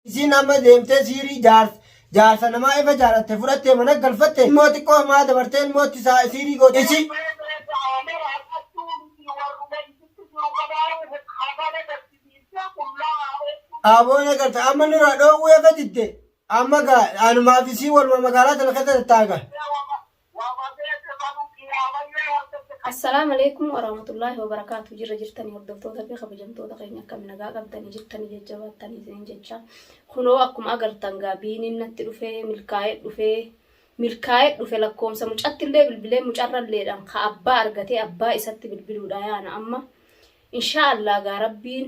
Isiin amma deemtee siirii jaarsa jaarsa namaa efa jaalatte fudhattee mana galfatte ilmoo xiqqoo hamaa dabartee ilmoo itti saa siirii goote isii. Mee beeka amala akkattuu miti warruma isitti jiru kanaahu hafana gaddisiiftee qullaa haa ooltuu. Aboo na garta amma nuraa dhoowwuu efa didde amma gaa anumaaf isii waluma magaalaa tana keessa tattaa'a gaa. Assalam Aleykum Warahmatullahi Wabarakatuh Jirra jirtani hordoftoota fi kabajamtoota keenya akkami nagaa qabdani jirtani jajjabaattani isinin jecha kunoo akkuma agartan gaa biiniin natti dhufe milkaa'ee dhufe milkaa'ee dhufe lakkoomsa mucatti illee bilbilee mucarra illeedhaan ka abbaa argatee abbaa isatti bilbiluudha yaana amma inshaa Allah gaa rabbiin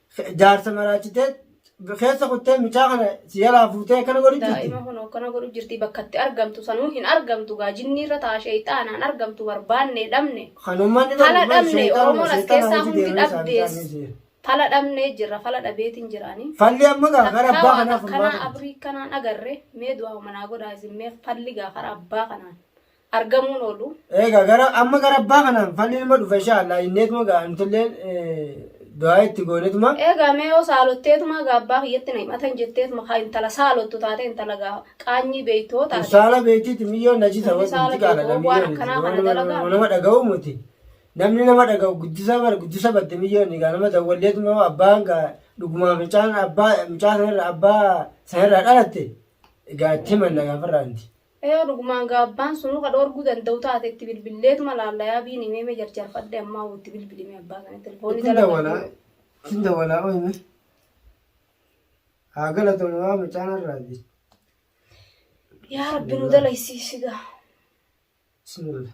Jaarsa maraachitee keessa kuttee mucaa kana si jalaa fuutee akkana godhu jirti. Daa'ima kun akkana godhu jirti bakka itti argamtu sanuu hin argamtu gaa jinni irra ta'a sheeyxaanaan argamtu barbaanne dhabne. Kan uummanni Fala barbaadu dhabne seexanuma, Oromoon as seexana keessaa nuti hundi deemnee isaanii dhabdees. isaanii jira. Fala dhabnee jirra fala dhabeetiin jiraanii. Falli amma gaa gara Takkaa abbaa waan kanaa furmaata. akkanaa abrii kanaan agarre mee du'aa manaa godhaa isin mee falli gaa karaa abbaa kanaan. argamuun oolu. Egaa gara amma gara abbaa kanaan falli nama dhufa insha Allah inneetuma gaa nutillee du'aa itti goonetuma. Egaa mee yoo saalotteetuma gaa abbaa kiyyatti na himatan jetteetuma kaa intala saalottu taate intala gaa qaanyii beeytoo taate. Saala beeytiiti miyyoo najisa Namni saala wanti qaala beeytoo waan akkanaa kana dalagaa. nama dhaga'u muti. Namni nama dhaga'u guddisa bara guddisa badde miyyoo inni gaa nama dawwalleetuma yoo abbaan gaa dhugumaa fincaan abbaa mucaa sanarra abbaa sanarraa dhalatte gaa itti himanna gaa farraanti. Yoo dhugumaan gaa abbaan sunuu ka dhoorguu danda'u taate itti bilbilleetuma laalla yaa biini mee mee jarjarfadhe ammaa woo itti bilbili mee abbaa sana telefoonni Ittiin dalagaa dawalaa. jiru. Ittiin dawalaa ooyime. Haa galatoomii waan mucaan har'aati. Yaa rabbi nu dalaysiisi gaa. Bismillah.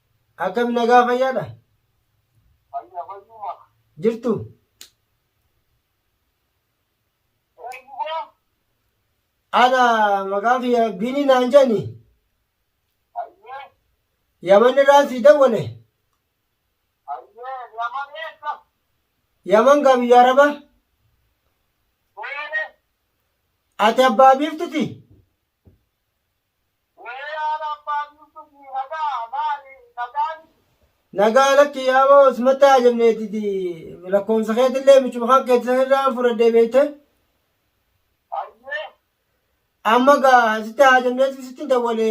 Akkami nagaa fayyaadha? Fayya fayyuma. Jirtu? Eenyuma? Ana maqaan kiyya Biinii naan jedhani. Hayyee. Yaman irraan sii dawwale. Hayyee. Yaman eessa? Yaman gaa biyya Araba. Beene. Ati abbaa biiftuti? Nagaa lakki yaaboo simatta hajamneetiti lakkoofsa keetillee michuma kan keetti sanirraa fudhadhee beekte. Amma gaa sitti hajamneeti sitti dawwale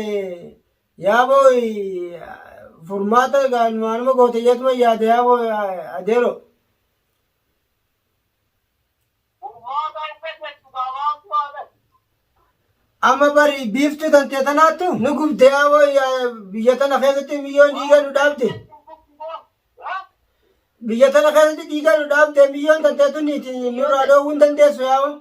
yaaboo furmaata gaa numaanuma goote jeetuma yaada yaaboo adeero. Furmaata hin dhageettu kaa maaltu haa ta'u? Amma bari biiftuu tantee tanaattu nu gubde yaa wayya biyya tana keessatti miyyoon dhiiga nu dhaabde. Biyya tana keessatti dhiiga nu dhaabde miyyoon tantee tuniiti nurraa dhoowwuu hin dandeessu yaa wayya.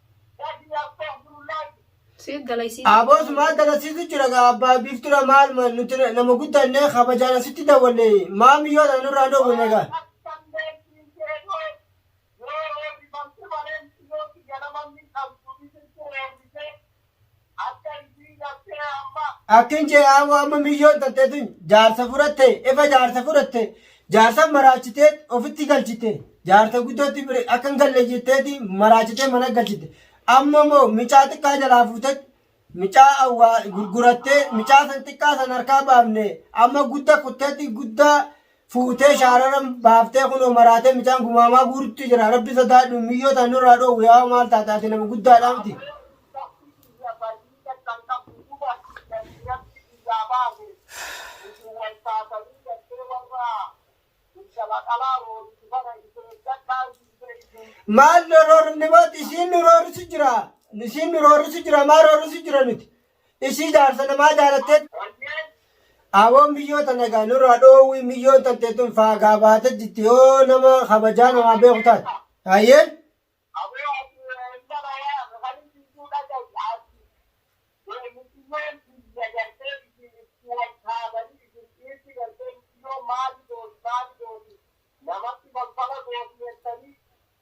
Abos maal dalasiisu jira gaa abbaa biiftura maal ma- nuti na- nama guddanne kabajaan asitti dawwanne maa miyyoo tana nurraa hin dhoowwine gaa. Akkin jee aawwa amma miyyoon tattee tun jaarsa fudhatte efa jaarsa fudhatte jaarsa maraachitee ofitti galchite jaarsa guddootti bire akka hin galle jetteeti maraachitee mana galchite amma moo micaa xiqqaa jalaa fuutee micaa awwaa gurgurattee micaa san xiqqaa san harkaa baafne amma gudda kutteetti guddaa fuutee shaararan baaftee kunoo maraatee micaan gumaamaa guurutti jira rabbi sodaadhu miyyoo tan nurraa dhoowwu yaa maal taate ati nama guddaadha miti maal nu roorrifne booti isiin nu roorrisu jira isiin nu roorrisu jira maa roorrisu jira nuti Ishii jaarsa namaa jaalatteet. Awoon miyyoo tana gaa nurraa dhoowwi miyyoon tantee tun faagaa baate jitti yoo nama kabajaa namaa beeku taate. Hayyee.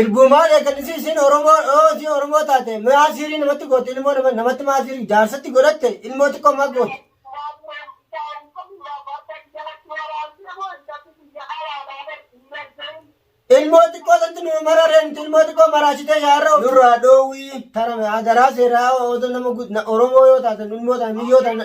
Ergumaa eegalisi isin Oromoo yoo isin Oromoo taate maa siirii namatti goote ilmoo nama- namatti maa siirii jaarsatti godhatte ilmoo xiqqoo maa goote. Ilmoo xiqqoo santi nu mararee nuti ilmoo xiqqoo maraasitee shaarra nurraa dhoowwii tarame adaraa seeraa otoo nama gu- na- Oromoo yoo taate nu ilmoo taate miyyoo taate.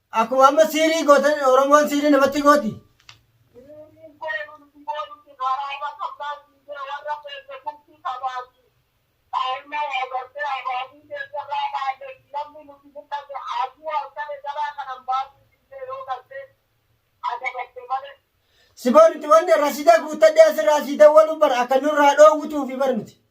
Akkuma amma siirii gootan Oromoon siirii namatti gooti. Siboon itti wanni rasiida guuttadhee asirraa sii dawwaluu bara akka nurraa dhoowwutuufi bar nuti.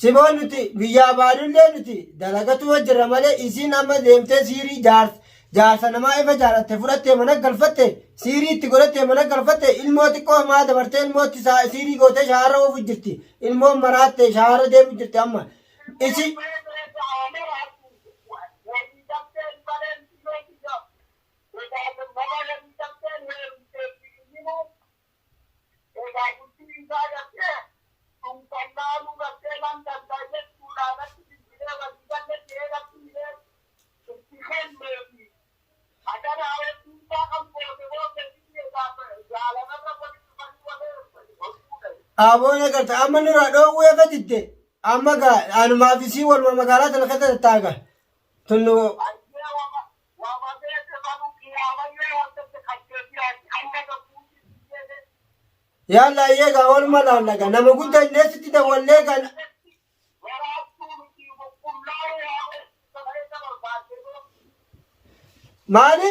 Siboo nuti biyyaa baadullee nuti dalagatu hojjirra malee isiin amma deemtee siirii jaarsa jaarsa namaa ifa jaalatte fudhattee mana galfatte siirii itti godhattee mana galfatte ilmoo xiqqoo maa dabartee ilmootti saa siirii gootee shaara oofu jirti ilmoon maraatte shaara deemu jirti amma isi Aboon agarta amma nurraa dhoowwuu eega didde amma gaa anumaaf isii waluma magaalaa tana keessa tattaaga tunnu Yaalla ayyee gaa waluma laalla gaa nama guddaa illee sitti dawwallee gaa maali?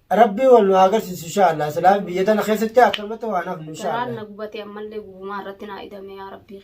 Rabbii wal nu haa agarsiisu insha Allah. Silaa biyya tana keessatti akkamatti waan hafnu insha Garaan Allah. na gubatee ammallee gubumaa irratti naa idame yaa rabbii.